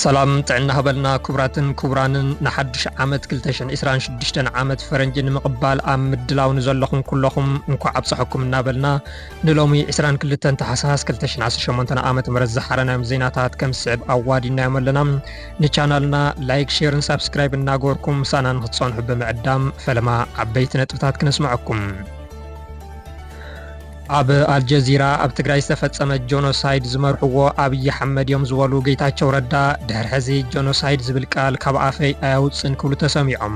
ሰላም ጥዕና ሃበልና ክቡራትን ክቡራንን ንሓድሽ ዓመት 226 ዓመት ፈረንጂ ንምቕባል ኣብ ምድላው ንዘለኹም ኩለኹም እንኳዕ ኣብፀሐኩም እናበልና ንሎሚ 22 ተሓሳስ 218 ዓ ም ዝሓረናዮም ዜናታት ከም ዝስዕብ ኣዋዲናዮም ኣለና ንቻናልና ላይክ ሼርን ሳብስክራይብ እናገበርኩም ምሳና ንክትጸንሑ ብምዕዳም ፈለማ ዓበይቲ ነጥብታት ክነስመዐኩም ኣብ ኣልጀዚራ ኣብ ትግራይ ዝተፈጸመ ጆኖሳይድ ዝመርሕዎ ኣብዪ ሓመድ እዮም ዝበሉ ጌታቸው ረዳ ድሕር ሕዚ ጆኖሳይድ ዝብል ቃል ካብ ኣፈይ ኣያውፅን ክብሉ ተሰሚዖም።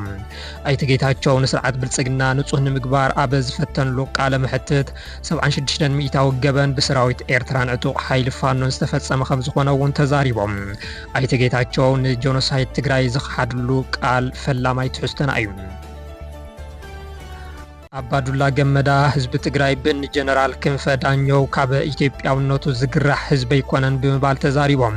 ኣይተ ጌታቸው ንስርዓት ብልፅግና ንፁህ ንምግባር ኣብ ዝፈተንሉ ቃለ መሕትት ሰብዓን ሽዱሽተን ሚኢታዊ ገበን ብሰራዊት ኤርትራን ዕጡቕ ሓይሊ ፋኖን ዝተፈጸመ ከምዝኾነ እውን ተዛሪቦም። ኣይተ ጌታቸው ንጆኖሳይድ ትግራይ ዝኸሓድሉ ቃል ፈላማይ ትሕዝቶና እዩ። ኣባዱላ ገመዳ ህዝቢ ትግራይ ብን ጀነራል ክንፈ ዳኘው ካብ ኢትዮጵያውነቱ ዝግራሕ ህዝቢ ኣይኮነን ብምባል ተዛሪቦም።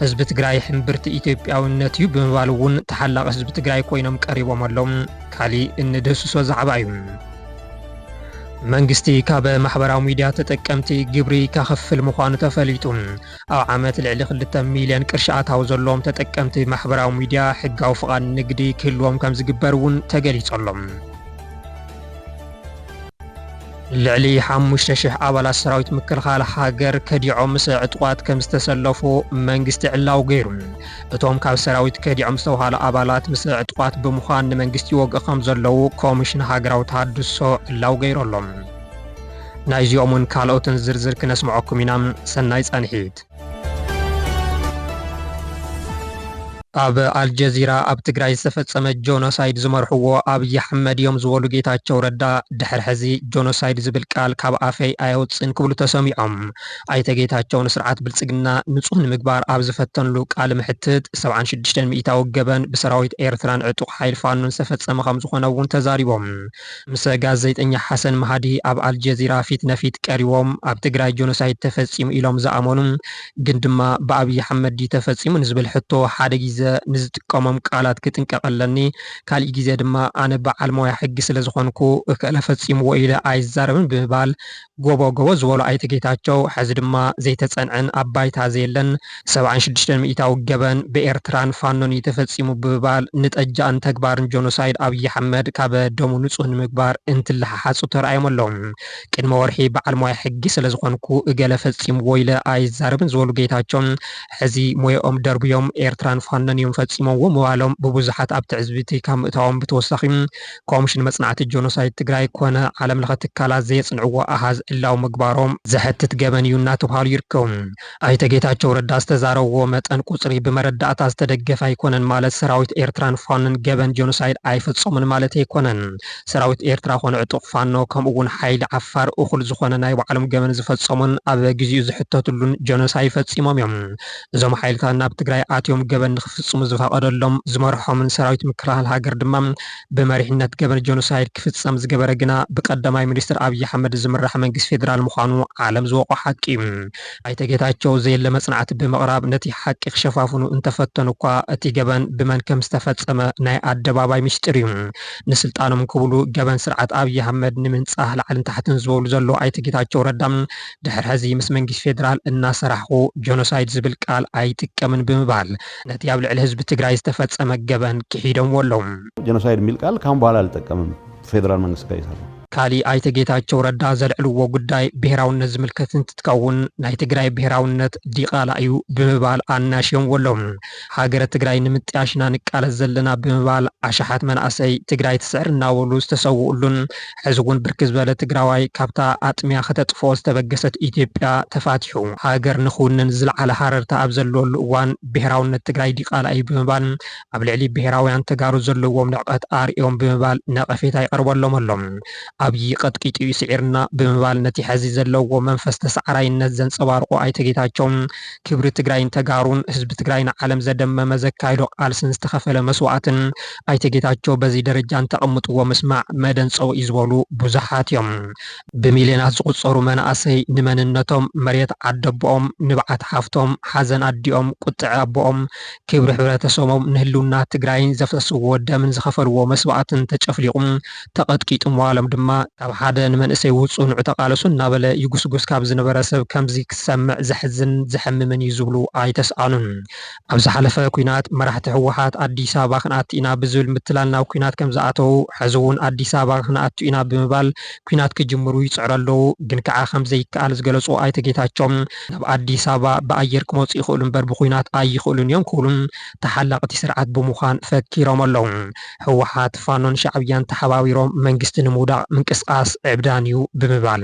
ህዝቢ ትግራይ ሕምብርቲ ኢትዮጵያዊነት እዩ ብምባል እውን ተሓላቒ ህዝቢ ትግራይ ኮይኖም ቀሪቦም ኣለው። ካሊእ እንድህስሶ ዛዕባ እዩ። መንግስቲ ካብ ማሕበራዊ ሚድያ ተጠቀምቲ ግብሪ ከኽፍል ምዃኑ ተፈሊጡ። ኣብ ዓመት ልዕሊ ክልተ ሚልዮን ቅርሺ ኣታዊ ዘለዎም ተጠቀምቲ ማሕበራዊ ሚድያ ሕጋዊ ፍቓድ ንግዲ ክህልዎም ከምዝግበር እውን ተገሊፁ ኣሎ። ልዕሊ ሓሙሽተ ሽሕ ኣባላት ሰራዊት ምክልኻል ሃገር ከዲዖም ምስ ዕጡቓት ከምዝተሰለፉ መንግስቲ ዕላዊ ገይሩ። እቶም ካብ ሰራዊት ከዲዖም ዝተብሃሉ ኣባላት ምስ ዕጡቓት ብምዃን ንመንግስቲ ይወግኡ ከም ዘለዉ ኮሚሽን ሃገራዊ ተሃድሶ ዕላዊ ገይሩ ኣሎ። ናይዚኦምን ካልኦትን ዝርዝር ክነስምዐኩም ኢና። ሰናይ ፃንሒት! ኣብ ኣልጀዚራ ኣብ ትግራይ ዝተፈፀመ ጆኖሳይድ ዝመርሕዎ ኣብይ ኣሕመድ እዮም ዝበሉ ጌታቸው ረዳ ድሕር ሕዚ ጆኖሳይድ ዝብል ቃል ካብ ኣፈይ ኣየውፅእን ክብሉ ተሰሚዖም። ኣይተ ጌታቸው ንስርዓት ብልፅግና ንፁህ ንምግባር ኣብ ዝፈተንሉ ቃለ መሕትት፣ ሰብዓን ሽዱሽተን ሚኢታዊ ገበን ብሰራዊት ኤርትራን ዕጡቕ ሓይሊ ፋኖን ዝተፈፀመ ከምዝኾነ እውን ተዛሪቦም። ምሰ ጋዜጠኛ ሓሰን ማሃዲ ኣብ ኣልጀዚራ ፊት ነፊት ቀሪቦም ኣብ ትግራይ ጆኖሳይድ ተፈፂሙ ኢሎም ዝኣመኑ ግን ድማ ብኣብይ ኣሕመድ ድዩ ተፈፂሙ ንዝብል ሕቶ ሓደ ጊዘ ንዝጥቀሞም ቃላት ክጥንቀቕ ኣለኒ ካሊእ ጊዘ ድማ ኣነ በዓል ሞያ ሕጊ ስለዝኾንኩ እከለ ፈፂምዎ ኢለ ኣይዛረብን ብምባል ጎቦ ጎቦ ዝበሎ ኣይተ ጌታቸው፣ ሐዚ ድማ ዘይተፀንዐን ኣብ ባይታ ዘየለን ሰብዓን ሽዱሽተን ሚኢታዊ ገበን ብኤርትራን ፋኖን እዩ ተፈፂሙ ብምባል ንጠጃእን ተግባርን ጆኖሳይድ ኣብይ ኣሕመድ ካበ ደሙ ንፁህ ንምግባር እንትለሓሓፁ ተራእዮም ኣለው። ቅድሚ ወርሒ በዓል ሞያ ሕጊ ስለዝኾንኩ እገለ ፈፂምዎ ኢለ ኣይዛረብን ዝበሉ ጌታቸው፣ ሐዚ ሞየኦም ደርብዮም ኤርትራን ፋኖን እዮም ፈፂሞምዎ ምባሎም ብብዙሓት ኣብ ትዕዝብቲ ካብ ምእታዎም ብተወሳኺ ኮምሽን መፅናዕቲ ጆኖሳይድ ትግራይ ኮነ ዓለም ለኸ ትካላት ዘየፅንዕዎ ኣሃዝ ዕላዊ ምግባሮም ዘሕትት ገበን እዩ እናተብሃሉ ይርከቡ። ኣይተ ጌታቸው ረዳ ዝተዛረብዎ መጠን ቁፅሪ ብመረዳእታ ዝተደገፈ ኣይኮነን ማለት ሰራዊት ኤርትራን ፋኖን ገበን ጆኖሳይድ ኣይፈፀሙን ማለት ኣይኮነን። ሰራዊት ኤርትራ ኮነ ዕጡቕ ፋኖ ከምኡ እውን ሓይሊ ዓፋር እኹል ዝኾነ ናይ ባዕሎም ገበን ዝፈፀሙን ኣብ ግዚኡ ዝሕተትሉን ጆኖሳይ ፈፂሞም እዮም። እዞም ሓይልታት ናብ ትግራይ ኣትዮም ገበን ንኽፍፅሙ ዝፈቐደሎም ዝመርሖምን ሰራዊት ምክልኻል ሃገር ድማ ብመሪሕነት ገበን ጆኖሳይድ ክፍፀም ዝገበረ ግና ብቀዳማይ ሚኒስትር ኣብይ ኣሕመድ ዝምራሕ መንግስቲ ፌዴራል ምዃኑ ዓለም ዝወቕዖ ሓቂ እዩ። ኣይተ ጌታቸው ዘየለ መፅናዕቲ ብምቕራብ ነቲ ሓቂ ክሸፋፍኑ እንተፈተኑ እኳ እቲ ገበን ብመን ከምዝተፈፀመ ናይ ኣደባባይ ሚስጢር እዩ። ንስልጣኖም ክብሉ ገበን ስርዓት ኣብይ ኣሕመድ ንምንፃህ ላዕልን ታሕትን ዝበሉ ዘለዉ ኣይተ ጌታቸው ረዳ ድሕሪ ሕዚ ምስ መንግስቲ ፌደራል እናሰራሕኹ ጆኖሳይድ ዝብል ቃል ኣይጥቀምን ብምባል ነቲ ኣብ ልዕሊ ህዝቢ ትግራይ ዝተፈፀመ ገበን ክሒዶምዎ ኣለው። ጀኖሳይድ ሚል ቃል ካሁን በኋላ ኣልጠቀምም ፌደራል መንግስቲ ጋር እየሰራሁ። ካሊእ ኣይተ ጌታቸው ረዳ ዘልዕልዎ ጉዳይ ብሄራውነት ዝምልከት እንትትከውን ናይ ትግራይ ብሄራውነት ዲቓላ እዩ ብምባል ኣናሽዮምዎ ኣለው። ሃገረ ትግራይ ንምጥያሽ ኢና ንቃለስ ዘለና ብምባል ኣሽሓት መናእሰይ ትግራይ ትስዕር እናበሉ ዝተሰውኡሉን ሕዚ'ውን ብርክት ዝበለ ትግራዋይ ካብታ ኣጥምያ ከተጥፍኦ ዝተበገሰት ኢትዮጵያ ተፋቲሑ ሃገር ንኽውንን ዝለዓለ ሃረርታ ኣብ ዘለወሉ እዋን ብሄራውነት ትግራይ ዲቓላ እዩ ብምባል ኣብ ልዕሊ ብሄራውያን ተጋሩ ዘለዎም ንዕቀት ኣርእዮም ብምባል ነቐፌታ ይቐርበሎም ኣሎ። ኣብዪ ቀጥቂጡ እዩ ስዒርና ብምባል ነቲ ሕዚ ዘለዎ መንፈስ ተሳዓራይነት ዘንፀባርቑ ኣይተ ጌታቸው ክብሪ ትግራይን ተጋሩን ህዝቢ ትግራይ ንዓለም ዘደመመ ዘካየዶ ቃልስን ዝተኸፈለ መስዋእትን ኣይተ ጌታቸው በዚ ደረጃ እንተቐምጥዎ ምስማዕ መደንፀዊ እዩ ዝበሉ ብዙሓት እዮም። ብሚልዮናት ዝቑፀሩ መናእሰይ ንመንነቶም፣ መሬት ዓደቦኦም፣ ንብዓት ሓፍቶም፣ ሓዘን ኣዲኦም፣ ቁጥዐ ኣቦኦም፣ ክብሪ ሕብረተሰቦም፣ ንህልውና ትግራይን ዘፍሰስዎ ደምን ዝኸፈልዎ መስዋእትን ተጨፍሊቑ ተቐጥቂጡ ምዋሎም ድማ ካብ ሓደ ንመንእሰይ ውፁ ንዑ ተቓለሱ እናበለ ይጉስጉስ ካብ ዝነበረ ሰብ ከምዚ ክሰምዕ ዘሕዝንን ዘሕምምን እዩ ዝብሉ ኣይተስኣኑን። ኣብ ዝሓለፈ ኲናት መራሕቲ ህወሓት ኣዲስ ኣበባ ክንኣቱ ኢና ብዝብል ምትላል ናብ ኲናት ከምዝኣተዉ ሕዚ እውን ኣዲስ ኣበባ ክንኣቱ ኢና ብምባል ኲናት ክጅምሩ ይፅዕሩ ኣለዉ ግን ከዓ ከምዘይከኣል ዝገለፁ ኣይተ ጌታቸው ናብ ኣዲስ ኣበባ ብኣየር ክመፁ ይኽእሉ እምበር ብዂናት ኣይኽእሉን እዮም ክብሉ ተሓላቒ እቲ ስርዓት ብምዃን ፈኪሮም ኣለዉ። ህወሓት ፋኖን ሻዕብያን ተሓባቢሮም መንግስቲ ንምውዳቕ ምንቅስቓስ ዕብዳን እዩ ብምባል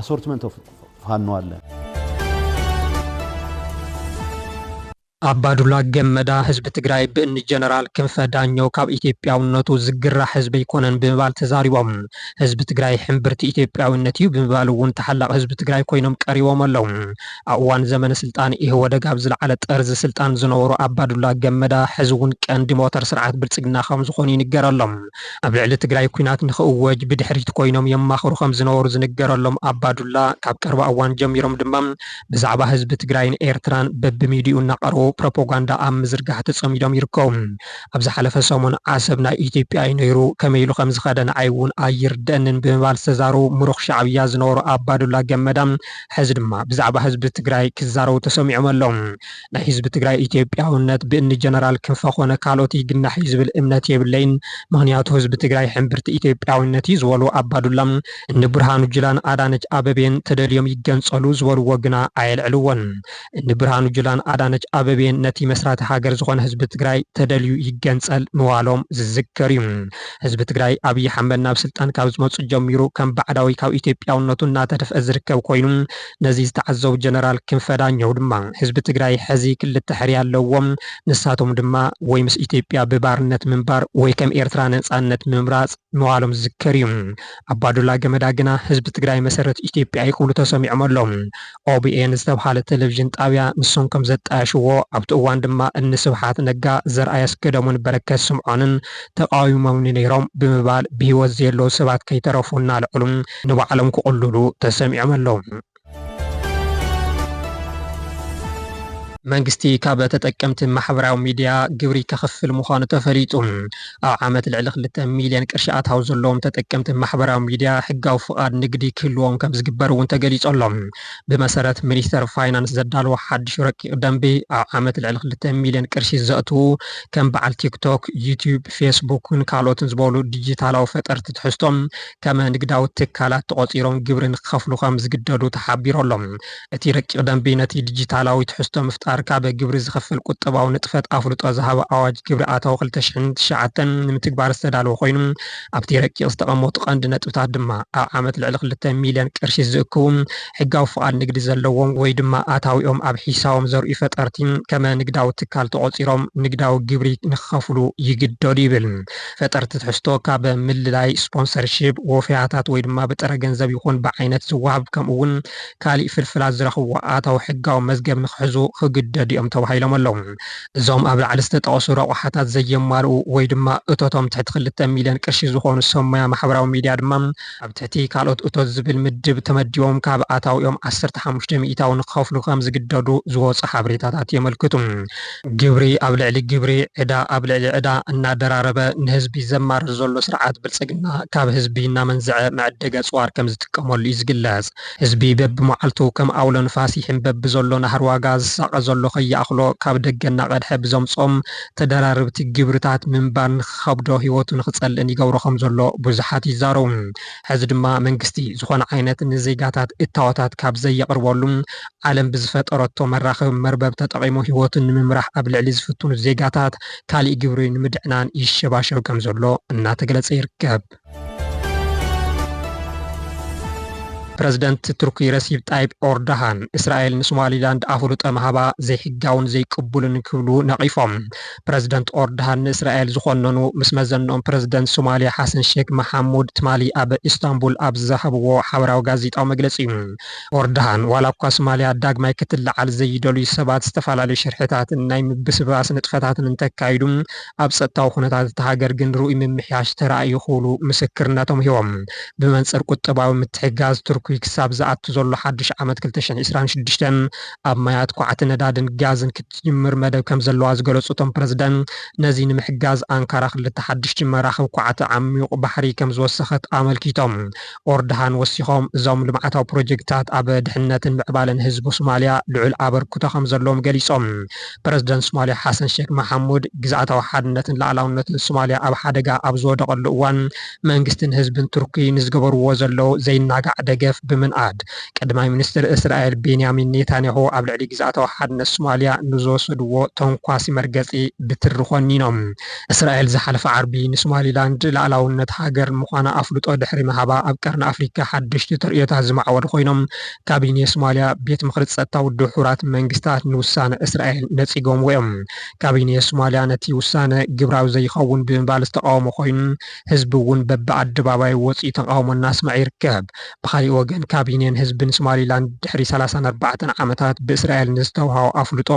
ኣሶርትመንት ኦፍ ፋኖ ኣለ። ኣባዱላ ገመዳ ህዝቢ ትግራይ ብእኒ ጀነራል ክንፈ ዳኘው ካብ ኢትዮጵያውነቱ ዝግራሕ ህዝቢ ኣይኮነን ብምባል ተዛሪቦም። ህዝቢ ትግራይ ሕምብርቲ ኢትዮጵያዊነት እዩ ብምባል እውን ተሓላቒ ህዝቢ ትግራይ ኮይኖም ቀሪቦም ኣለው። ኣብ እዋን ዘመነ ስልጣን ኢህወደግ ኣብ ዝለዓለ ጠርዚ ስልጣን ዝነበሩ ኣባዱላ ገመዳ ሕዚ እውን ቀንዲ ሞተር ስርዓት ብልፅግና ከምዝኾኑ ይንገረሎም። ኣብ ልዕሊ ትግራይ ኲናት ንኽእወጅ ብድሕሪት ኮይኖም የማኽሩ ከምዝነበሩ ዝንገረሎም ኣባዱላ፣ ካብ ቀረባ እዋን ጀሚሮም ድማ ብዛዕባ ህዝቢ ትግራይን ኤርትራን በብሚድይኡ እናቐረቡ ፕሮፖጋንዳ ኣብ ምዝርጋሕ ተፀሚዶም ይርከቡ። ኣብ ዝሓለፈ ሰሙን ዓሰብ ናይ ኢትዮጵያ እዩ ነይሩ፣ ከመይ ኢሉ ከምዝኸደ ንዓይ እውን ኣይርደእንን ብምባል ዝተዛረቡ ምሩኽ ሻዕብያ ዝነበሩ ኣባዱላ ገመዳ ሕዚ ድማ ብዛዕባ ህዝቢ ትግራይ ክዛረቡ ተሰሚዖም ኣለው። ናይ ህዝቢ ትግራይ ኢትዮጵያውነት ብእኒ ጀነራል ክንፈ ኮነ ካልኦት ይግናሕ እዩ ዝብል እምነት የብለይን። ምኽንያቱ ህዝቢ ትግራይ ሕምብርቲ ኢትዮጵያዊነት እዩ ዝበሉ ኣባዱላ እኒ ብርሃኑ ጁላን ኣዳነች ኣበቤን ተደልዮም ይገንፀሉ ዝበልዎ ግና ኣየልዕልዎን። እኒ ብርሃኑ ጁላን ኣዳነች ኣበቤን ነቲ መስራቲ ሃገር ዝኾነ ህዝቢ ትግራይ ተደልዩ ይገንፀል ምባሎም ዝዝከር እዩ። ህዝቢ ትግራይ ኣብይ ሓመድ ናብ ስልጣን ካብ ዝመፁ ጀሚሩ ከም ባዕዳዊ ካብ ኢትዮጵያውነቱ እናተደፍአ ዝርከብ ኮይኑ ነዚ ዝተዓዘቡ ጀነራል ክንፈ ዳኘው ድማ ህዝቢ ትግራይ ሕዚ ክልተ ሕርያ ኣለዎ። ንሳቶም ድማ ወይ ምስ ኢትዮጵያ ብባርነት ምንባር ወይ ከም ኤርትራ ነፃነት ምምራፅ ምባሎም ዝዝከር እዩ። ኣባዱላ ገመዳ ግና ህዝቢ ትግራይ መሰረት ኢትዮጵያ እዩ ክብሉ ተሰሚዖም ኣለው። OBN ዝተብሃለ ቴሌቪዥን ጣብያ ንሶም ከም ዘጣየሽዎ ኣብቲ እዋን ድማ እኒ ስብሓት ነጋ፣ ዘርኣይ ኣስገዶምን በረከት ስምዖንን ተቓዊሞምኒ ነይሮም ብምባል ብህይወት ዘየለው ሰባት ከይተረፉ እናልዐሉ ንባዕሎም ክቕልሉ ተሰሚዖም ኣለዉ። መንግስቲ ካብ ተጠቀምቲ ማሕበራዊ ሚድያ ግብሪ ከኽፍል ምዃኑ ተፈሊጡ። ኣብ ዓመት ልዕሊ ክልተ ሚልየን ቅርሺ ኣታዊ ዘለዎም ተጠቀምቲ ማሕበራዊ ሚድያ ሕጋዊ ፍቓድ ንግዲ ክህልዎም ከምዝግበር እውን ተገሊፁ ኣሎ። ብመሰረት ሚኒስቴር ፋይናንስ ዘዳለዎ ሓዱሽ ረቂቕ ደንቢ ኣብ ዓመት ልዕሊ ክልተ ሚልየን ቅርሺ ዘእትዉ ከም በዓል ቲክቶክ፣ ዩትዩብ፣ ፌስቡክን ካልኦትን ዝበሉ ዲጂታላዊ ፈጠርቲ ትሕዝቶ ከመ ንግዳዊ ትካላት ተቖጺሮም ግብሪ ንክኸፍሉ ከም ዝግደዱ ተሓቢሩ ኣሎ። እቲ ረቂቕ ደንቢ ነቲ ዲጂታላዊ ትሕዝቶ ምፍጣር ካብ ግብሪ ዝኸፍል ቁጠባዊ ንጥፈት ኣፍልጦ ዝሃበ ኣዋጅ ግብሪ ኣታዊ ክልተ ሽሕን ትሽዓተን ንምትግባር ዝተዳለወ ኮይኑ ኣብቲ ረቂቕ ዝተቐመጡ ቀንዲ ነጥብታት ድማ ኣብ ዓመት ልዕሊ ክልተ ሚልዮን ቅርሺ ዝእክቡ ሕጋዊ ፍቓድ ንግዲ ዘለዎም ወይ ድማ ኣታዊኦም ኣብ ሒሳቦም ዘርእዩ ፈጠርቲ ከመ ንግዳዊ ትካል ተቖጺሮም ንግዳዊ ግብሪ ንክኸፍሉ ይግደዱ ይብል። ፈጠርቲ ትሕዝቶ ካብ ምልላይ፣ ስፖንሰርሺፕ፣ ወፈያታት ወይ ድማ ብጥረ ገንዘብ ይኹን ብዓይነት ዝወሃብ ከምኡ እውን ካሊእ ፍልፍላት ዝረኽብዎ ኣታዊ ሕጋዊ መዝገብ ንክሕዙ ክግደዱ እዮም ተባሂሎም ኣለው። እዞም ኣብ ላዕሊ ዝተጠቐሱ ረቑሓታት ዘየማልኡ ወይ ድማ እቶቶም ትሕቲ ክልተ ሚሊየን ቅርሺ ዝኾኑ ሰብ ሞያ ማሕበራዊ ሚዲያ ድማ ኣብ ትሕቲ ካልኦት እቶት ዝብል ምድብ ተመዲቦም ካብ ኣታዊኦም ዓሰርተ ሓሙሽተ ሚኢታዊ ንክኸፍሉ ከም ዝግደዱ ዝወጹ ሓበሬታታት የመልክቱ። ግብሪ ኣብ ልዕሊ ግብሪ፣ ዕዳ ኣብ ልዕሊ ዕዳ እናደራረበ ንህዝቢ ዘማርር ዘሎ ስርዓት ብልጽግና ካብ ህዝቢ እናመንዘዐ መዐደጊ ኣጽዋር ከም ዝጥቀመሉ እዩ ዝግለጽ። ህዝቢ በብመዓልቱ ከም ኣውሎ ንፋስ ይሕምበብ ብዘሎ ናህሪ ዋጋ ዝሳቐ ዘሎ ከይኣኽሎ ካብ ደገ እናቐድሐ ብዘምጽኦም ተደራረብቲ ግብርታት ምንባር ንኽኸብዶ ህይወቱ ንኽጸልእን ይገብሮ ከም ዘሎ ብዙሓት ይዛረቡ። ሕዚ ድማ መንግስቲ ዝኾነ ዓይነት ንዜጋታት እታወታት ካብ ዘየቕርበሉ፣ ዓለም ብዝፈጠረቶ መራኸቢ መርበብ ተጠቒሙ ህይወቱ ንምምራሕ ኣብ ልዕሊ ዝፍትኑ ዜጋታት ካሊእ ግብሪ ንምድዕናን ይሸባሸብ ከም ዘሎ እናተገለጸ ይርከብ። ፕረዚደንት ቱርኪ ረሲብ ጣይብ ኦርዳሃን እስራኤል ንሶማሊላንድ ኣፍልጦ ምሃባ ዘይሕጋውን ዘይቅቡልን ክብሉ ነቒፎም። ፕረዚደንት ኦርዳሃን ንእስራኤል ዝኾነኑ ምስ መዘንኦም ፕረዚደንት ሶማልያ ሓሰን ሼክ መሓሙድ ትማሊ ኣብ ኢስታንቡል ኣብ ዝሃብዎ ሓበራዊ ጋዜጣዊ መግለጺ እዩ። ኦርዳሃን ዋላ እኳ ሶማልያ ዳግማይ ክትለዓል ዘይደልዩ ሰባት ዝተፈላለዩ ሽርሕታትን ናይ ምብስባስ ንጥፈታትን እንተካይዱ ኣብ ፀጥታዊ ኩነታት እታ ሃገር ግን ርኡይ ምምሕያሽ ተራእዩ ክብሉ ምስክርነቶም ሂቦም። ብመንፅር ቁጠባዊ ምትሕግጋዝ፣ ቱርኪ ክሳብ ዝኣቱ ዘሎ ሓዱሽ ዓመት ክልተ ሽሕ ዒስራን ሽዱሽተን ኣብ ማያት ኳዕቲ ነዳድን ጋዝን ክትጅምር መደብ ከምዘለዋ ዝገለፁ እቶም ፕረዚደንት ነዚ ንምሕጋዝ ኣንካራ ክልተ ሓዱሽ ጅመራክብ ኳዕቲ ዓሚዩቕ ባሕሪ ከምዝወሰኸት ኣመልኪቶም። ኦርድሃን ወሲኾም፣ እዞም ልምዓታዊ ፕሮጀክትታት ኣብ ድሕንነትን ምዕባለን ህዝቢ ሶማልያ ልዑል ኣበርክቶ ከምዘለዎም ገሊፆም። ፕረዚደንት ሶማልያ ሓሰን ሼክ መሓሙድ፣ ግዝኣታዊ ሓድነትን ልኣላውነትን ሶማልያ ኣብ ሓደጋ ኣብ ዝወደቐሉ እዋን መንግስትን ህዝብን ቱርኪ ንዝገበርዎ ዘለዉ ዘይናጋዕ ደገፍ ብምንኣድ፣ ቀዳማይ ሚኒስትር እስራኤል ቤንያሚን ኔታንያሁ ኣብ ልዕሊ ግዝኣታዊ ሓድነት ሶማልያ ንዝወሰድዎ ተንኳሲ መርገፂ ብትሪ ኮኒኖም። እስራኤል ዝሓለፈ ዓርቢ ንሶማሊላንድ ልኣላውነት ሃገር ምዃና ኣፍልጦ ድሕሪ ምሃባ ኣብ ቀርኒ ኣፍሪካ ሓደሽቲ ተርእዮታት ዝማዕበሉ ኮይኖም ካቢኔ ሶማሊያ ቤት ምኽሪ ፀጥታ ውድብ ሕቡራት መንግስታት ንውሳነ እስራኤል ነፂጎምዎ እዮም። ካቢኔ ሶማሊያ ነቲ ውሳነ ግብራዊ ዘይኸውን ብምባል ዝተቓወሞ ኮይኑ ህዝቢ እውን በቢ ኣደባባዩ ወፂኡ ተቓውሞ እናስመዐ ይርከብ። ብኻሊእ ወገን ካቢኔን ህዝብን ሶማሊላንድ ድሕሪ ሰላሳን ኣርባዕተን ዓመታት ብእስራኤል ንዝተውሃቦ ኣፍልጦ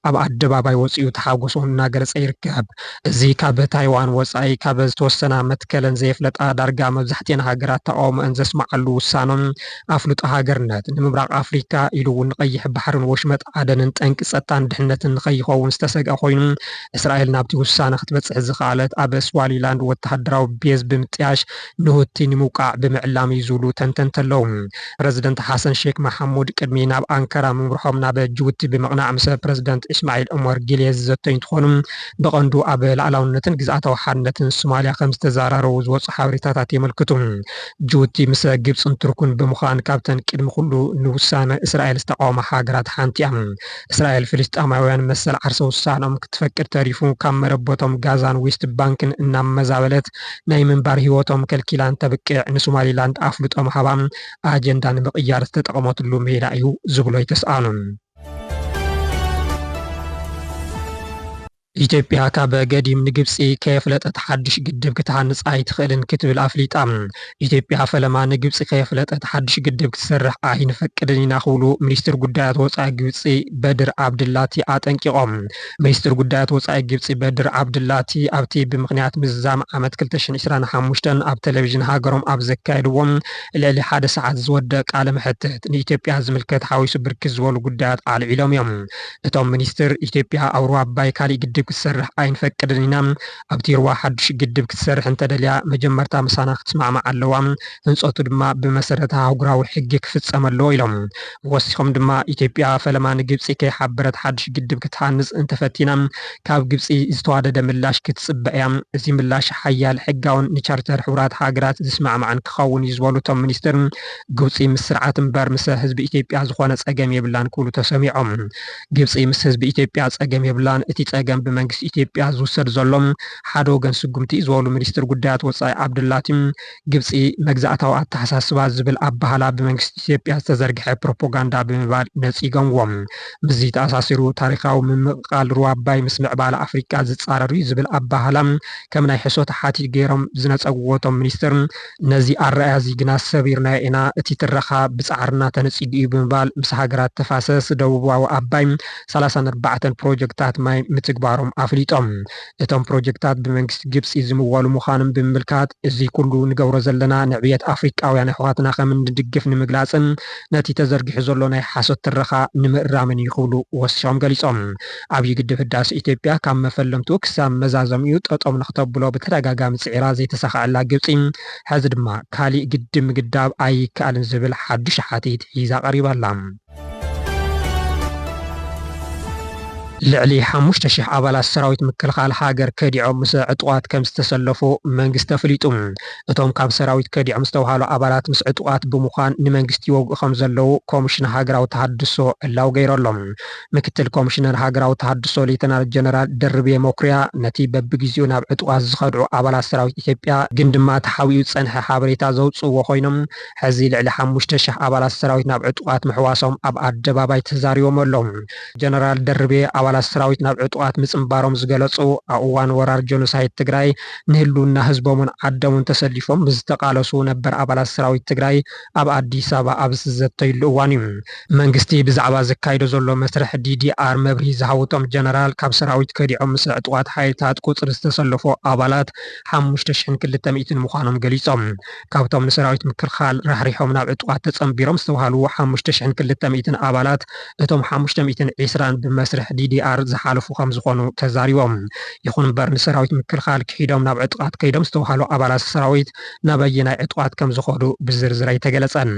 ኣብ ኣደባባይ ወፂኡ ተሓጎሶ እናገለፀ ይርከብ። እዚ ካብ ታይዋን ወፃኢ ካብ ዝተወሰና መትከለን ዘየፍለጣ ዳርጋ መብዛሕቲኤን ሃገራት ተቓውሞኤን ዘስመዓሉ ውሳነ ኣፍልጦ ሃገርነት ንምብራቕ ኣፍሪካ ኢሉ እውን ንቀይሕ ባሕርን ወሽመጥ ዓደንን ጠንቂ ፀጥታን ድሕነትን ንከይኸውን ዝተሰግኣ ኮይኑ እስራኤል ናብቲ ውሳነ ክትበፅሕ ዝኸኣለት ኣብ ስዋሊላንድ ወተሃደራዊ ቤዝ ብምጥያሽ ንሁቲ ንምውቃዕ ብምዕላም እዩ ዝብሉ ተንተንቲ ኣለዉ። ፕረዚደንት ሓሰን ሼክ መሓሙድ ቅድሚ ናብ ኣንከራ ምምርሖም ናብ ጅቡቲ ብምቕናዕ ምስ ፕረዚደንት እስማዒል ዑመር ጊሌ ዝዘተዩ እንትኾኑ ብቐንዱ ኣብ ላእላውነትን ግዝኣታዊ ሓድነትን ሱማሊያ ከምዝተዘራረቡ ዝወፁ ሓበሬታታት የመልክቱ። ጅቡቲ ምስ ግብፅን ቱርክን ብምዃን ካብተን ቅድሚ ኩሉ ንውሳነ እስራኤል ዝተቓወማ ሃገራት ሓንቲ እያ። እስራኤል ፍልስጤማውያን መሰል ዓርሰ ውሳነኦም ክትፈቅድ ተሪፉ ካብ መረበቶም ጋዛን ዌስት ባንክን እናመዛበለት ናይ ምንባር ህይወቶም ከልኪላ እንተብቅዕ ንሱማሊላንድ ኣፍልጦም ሃባ ኣጀንዳ ንምቕያር ዝተጠቐመትሉ ሜላ እዩ ዝብሉ ኣይተስኣኑን። ኢትዮጵያ ካብ ገዲም ንግብፂ ከየፍለጠት ሓዱሽ ግድብ ክትሃንፅ ኣይትኽእልን ክትብል ኣፍሊጣ። ኢትዮጵያ ፈለማ ንግብፂ ከየፍለጠት ሓዱሽ ግድብ ክትሰርሕ ኣይንፈቅድን ኢና ክብሉ ሚኒስትር ጉዳያት ወፃኢ ግብፂ በድር ዓብድላቲ ኣጠንቂቖም። ሚኒስትር ጉዳያት ወጻኢ ግብጺ በድር ዓብዱላቲ ኣብቲ ብምኽንያት ምዝዛም ዓመት ክልተ ሽሕን ዕስራን ሓሙሽተን ኣብ ተለቪዥን ሃገሮም ኣብ ዘካየድዎ ልዕሊ ሓደ ሰዓት ዝወድእ ቃለ መሕትት ንኢትዮጵያ ዝምልከት ሓዊሱ ብርክት ዝበሉ ጉዳያት ኣልዒሎም እዮም። እቶም ሚኒስትር፣ ኢትዮጵያ ኣብ ሩባ ኣባይ ካሊእ ግድብ ክትሰርሕ ኣይንፈቅድን ኢና፣ ኣብቲ ሩባ ሓዱሽ ግድብ ክትሰርሕ እንተደልያ መጀመርታ ምሳና ክትስማዕማዕ ኣለዋ፣ ህንፀቱ ድማ ብመሰረት ኣህጉራዊ ሕጊ ክፍፀም ኣለዎ ኢሎም። ወሲኾም ድማ ኢትዮጵያ ፈለማ ንግብፂ ከይሓበረት ሓዱሽ ግድብ ክትሃንፅ እንተፈቲና ካብ ግብፂ ዝተዋደደ ምላሽ ክትፅበ እያ፣ እዚ ምላሽ ሓያል፣ ሕጋውን ንቻርተር ሕቡራት ሃገራት ዝስማዕማዕን ክኸውን እዩ ዝበሉ እቶም ሚኒስትር፣ ግብፂ ምስ ስርዓት እምበር ምሰ ህዝቢ ኢትዮጵያ ዝኾነ ፀገም የብላን ክብሉ ተሰሚዖም። ግብፂ ምስ ህዝቢ ኢትዮጵያ ፀገም የብላን፣ እቲ ፀገም ብመንግስቲ ኢትዮጵያ ዝውሰድ ዘሎ ሓደ ወገን ስጉምቲ እዩ ዝበሉ ሚኒስትር ጉዳያት ወፃኢ ዓብዱላቲ ግብፂ መግዛእታዊ ኣተሓሳስባ ዝብል ኣበሃህላ ብመንግስቲ ኢትዮጵያ ዝተዘርግሐ ፕሮፖጋንዳ ብምባል ነፂገምዎ። ምስዚ ተኣሳሲሩ ታሪኻዊ ምምቕቓል ሩባ ኣባይ ምስ ምዕባለ ኣፍሪካ ዝፃረር እዩ ዝብል ኣበሃህላ ከም ናይ ሕሶት ሓቲት ገይሮም ዝነፀግዎ እቶም ሚኒስትር ነዚ ኣረኣእያ'ዚ ግና ሰቢርናዮ ኢና፣ እቲ ትረኻ ብጻዕርና ተነጺጉ'ዩ ብምባል ምስ ሃገራት ተፋሰስ ደቡባዊ ኣባይ ሰላሳን ኣርባዕተን ፕሮጀክታት ማይ ምትግባሮም ኣፍሊጦም። እቶም ፕሮጀክታት ብመንግስቲ ግብጺ ዝምወሉ ምዃኖም ብምምልካት፣ እዚ ኩሉ ንገብሮ ዘለና ንዕብየት ኣፍሪቃውያን ኣሕዋትና ከም እንድግፍ ንምግላጽን ነቲ ተዘርጊሑ ዘሎ ናይ ሓሶት ትረኻ ንምእራምን'ዩ ክብሉ ወሲኾም ገሊጾም። ዓብዪ ግድብ ህዳሰ ኢትዮጵያ ካብ መፈለምትኡ ክሳብ መዛዘሚኡ ጠጠው ንክተብሎ ብተደጋጋሚ ፅዒራ ዘይተሳኸዐላ ግብፂ ሐዚ ድማ ካሊእ ግድብ ምግዳብ ኣይከኣልን ዝብል ሓዱሽ ሓቲት ሒዛ ቀሪባ ኣላ። ልዕሊ ሓሙሽተ ሽሕ ኣባላት ሰራዊት ምክልኻል ሃገር ከዲዖም ምስ ዕጡቓት ከምዝተሰለፉ መንግስቲ ኣፍሊጡ። እቶም ካብ ሰራዊት ከዲዖም ዝተብሃሉ ኣባላት ምስ ዕጡቓት ብምዃን ንመንግስቲ ይወግኡ ከምዘለዉ ኮሚሽን ሃገራዊ ተሃድሶ ዕላዊ ገይሩ ኣሎ። ምክትል ኮሚሽነር ሃገራዊ ተሃድሶ ሌተናል ጀነራል ደርቤ መኩሪያ፣ ነቲ በብግዜኡ ናብ ዕጡቓት ዝኸድዑ ኣባላት ሰራዊት ኢትዮጵያ ግን ድማ ተሓቢኡ ዝጸንሐ ሓበሬታ ዘውጽእዎ ኮይኖም፣ ሕዚ ልዕሊ ሓሙሽተ ሽሕ ኣባላት ሰራዊት ናብ ዕጡቓት ምሕዋሶም ኣብ ኣደባባይ ተዛሪቦም ኣለው። ጀነራል ደርቤ፣ ኣባላት ሰራዊት ናብ ዕጡቓት ምጽንባሮም ዝገለጹ፣ ኣብ እዋን ወራር ጀኖሳይድ ትግራይ ንህልውና ህዝቦምን ዓዶምን ተሰሊፎም ምስ ዝተቓለሱ ነበር ኣባላት ሰራዊት ትግራይ፣ ኣብ ኣዲስ ኣበባ ኣብ ዝዘተይሉ እዋን እዩ። መንግስቲ ብዛዕባ ዘካይዶ ዘሎ መስርሕ ዲዲኣር መብርሂ ዝሃቡ እቶም ጀነራል፣ ካብ ሰራዊት ከዲዖም ምስ ዕጡቓት ሓይልታት ቁፅሪ ዝተሰለፎ ኣባላት ሓሙሽተ ሽሕን ክልተ ሚእትን ምዃኖም ገሊፆም። ካብቶም ንሰራዊት ምክልኻል ራሕሪሖም ናብ ዕጡቓት ተፀምቢሮም ዝተብሃሉ ሓሙሽተ ሽሕን ክልተ ሚእትን ኣባላት እቶም ሓሙሽተ ሚእትን ዒስራን ብመስርሕ ዲዲኣር ዝሓለፉ ከምዝኾኑ ተዛሪቦም። ይኹን እምበር ንሰራዊት ምክልኻል ክሒዶም ናብ ዕጡቓት ከይዶም ዝተብሃሉ ኣባላት ሰራዊት ናብ ኣየናይ ዕጡቓት ከም ዝኸዱ ብዝርዝር ኣይተገለፀን።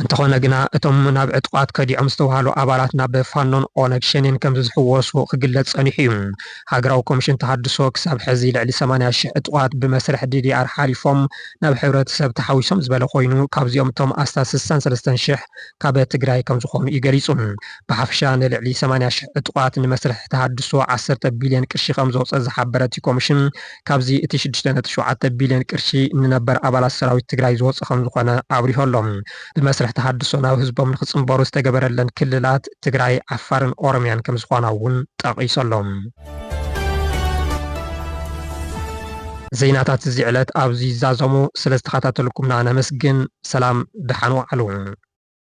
እንተኾነ ግና እቶም ናብ ዕጡቓት ከዲዖም ዝተብሃሉ ኣባላት ናብ ፋኖን ኦነግ ሸኔን ከም ዝሕወሱ ክግለፅ ፀኒሑ እዩ። ሃገራዊ ኮሚሽን ተሃድሶ ክሳብ ሕዚ ልዕሊ ሰማንያ ሽሕ ዕጡቓት ብመስርሕ ዲዲኣር ሓሊፎም ናብ ሕብረተሰብ ተሓዊሶም ዝበለ ኮይኑ ካብዚኦም እቶም ኣስታት ስሳን ሰለስተን ሽሕ ካብ ትግራይ ከም ዝኾኑ እዩ ገሊፁ። ብሓፈሻ ንልዕሊ ሰማንያ ሽሕ ዕጡቓት ንመስርሕ ተሃድሶ ዓሰርተ ቢልየን ቅርሺ ከም ዘውፀ ዝሓበረ እቲ ኮሚሽን ካብዚ እቲ ሽዱሽተ ነጥቢ ሸውዓተ ቢልዮን ቅርሺ ንነበር ኣባላት ሰራዊት ትግራይ ዝወፆ ከምዝኾነ ኣብሪሁ ኣሎ። ብመስርሕ ተሃድሶ ናብ ህዝቦም ንክፅምበሩ ዝተገበረለን ክልላት ትግራይ፣ ዓፋርን ኦሮሚያን ከምዝኾና እውን ጠቒሱ ኣሎ። ዜናታት እዚ ዕለት ኣብዚ ይዛዘሙ። ስለዝተኸታተልኩምና ነመስግን። ሰላም ደሓን ወዓሉ።